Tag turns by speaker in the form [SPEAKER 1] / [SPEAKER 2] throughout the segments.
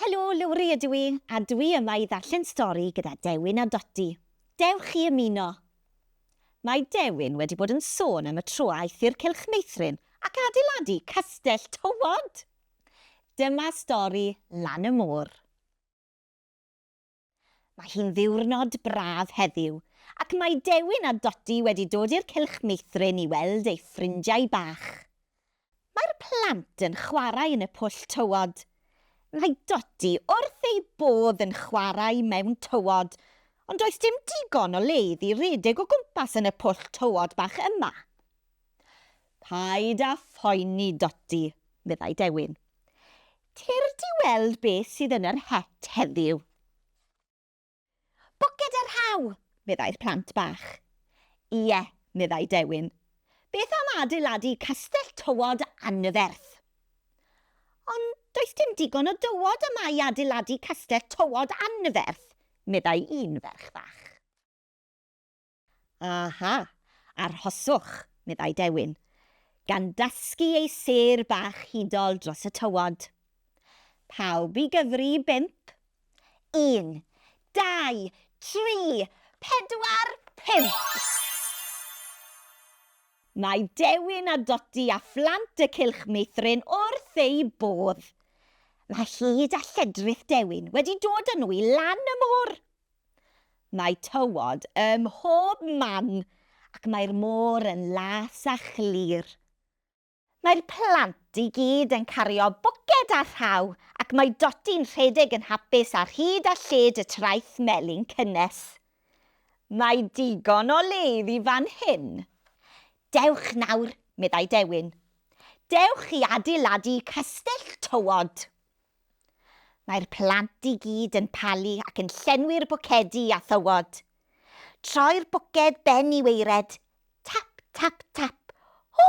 [SPEAKER 1] Helo, Lowri ydw i, a dwi yma i ddarllen stori gyda Dewin a Doti. Dewch chi ymuno! Mae Dewin wedi bod yn sôn am y tro aeth i'r Cylch Meithrin ac adeiladu castell tywod! Dyma stori Lan y Môr. Mae hi'n ddiwrnod braf heddiw ac mae Dewin a Dodi wedi dod i'r cylch meithrin i weld eu ffrindiau bach. Mae'r plant yn chwarae yn y pwll tywod. Mae Dodi wrth ei bodd yn chwarae mewn tywod, ond does dim digon o le iddi redeg o gwmpas yn y pwll tywod bach yma. Paid â phoeni, Dodi, meddai Dewin. Cer di weld beth sydd yn yr het heddiw. Bwced a rhaw! meddai'r plant bach. Ie, meddai Dewin. Beth am adeiladu castell tywod anferth? Ond does dim digon o dywod yma i adeiladu castell tywod anferth, meddai un ferch fach. Aha! Arhoswch, meddai Dewin, gan dasgu ei sêr bach hudol dros y tywod. Pawb i gyfri i bump. Un, dau, tri, pedwar, pump! Mae Dewin a Dodi a phlant y Cylch Meithrin wrth eu bodd. Mae hud a lledrith Dewin wedi dod â nhw i lan y môr. Mae tywod ym mhob man ac mae'r môr yn las a chlir. Mae'r plant i gyd yn cario bwced a rhaw ac mae Doti'n rhedeg yn hapus ar hyd a lled y traeth melyn cynnes. Mae digon o le iddi fan hyn. Dewch nawr, meddai Dewin. Dewch i adeiladu castell tywod. Mae'r plant i gyd yn palu ac yn llenwi'r bwcedi â thywod. Troi'r bwced ben i waered. Tap, tap, tap. O!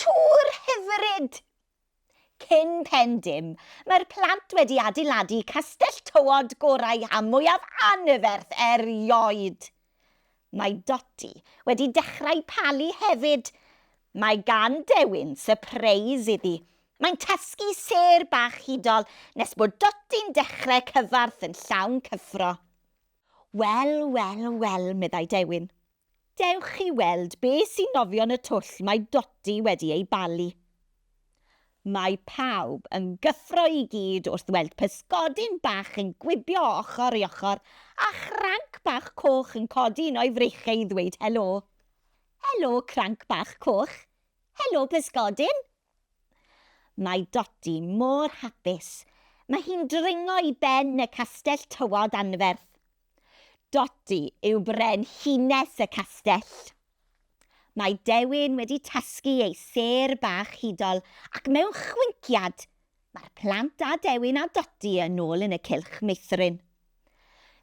[SPEAKER 1] Tŵr hyfryd! Cyn pen dim, mae'r plant wedi adeiladu castell tywod gorau a mwyaf anferth erioed. Mae Dotty wedi dechrau palu hefyd! Mae gan Dewin sypreis iddi. Mae'n tasgu sêr bach hudol nes bod Dotty'n dechrau cyfarth yn llawn cyffro. Wel, wel, wel, meddai Dewin. Dewch i weld be sy'n nofio yn y twll mae Dotty wedi ei balu. Mae pawb yn gyffro i gyd wrth weld pysgodyn bach yn gwibio ochr i ochr a chranc bach coch yn codi un o'i freichiau i ddweud helo. Helo, Cranc Bach Coch! Helo, Pysgodyn! Mae Dodi mor hapus. Mae hi'n dringo i ben y castell tywod anferth. Dodi yw brenhines y castell. Mae Dewin wedi tasgu ei sêr bach hudol ac mewn chwinciad, mae'r plant a Dewin a Dodi yn ôl yn y cylch meithrin.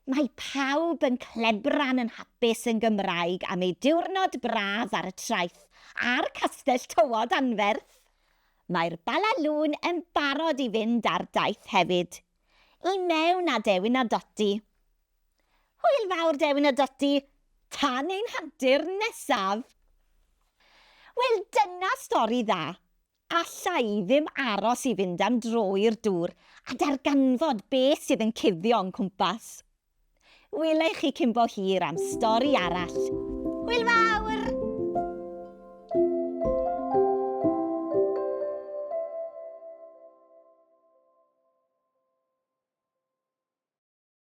[SPEAKER 1] Mae pawb yn clebran yn hapus yn Gymraeg am eu diwrnod braf ar y traeth a'r castell tywod anferth! Mae'r Bala Lŵn yn barod i fynd ar daith hefyd. I mewn â Dewin a Dodi! Hwyl fawr Dewin a Dotty, tan ein hantur nesaf! Wel dyna stori dda, alla i ddim aros i fynd am dro i'r dŵr a darganfod be sydd yn cuddio o'n cwmpas. Wela i chi cyn bo hir am stori arall. Hwyl fawr!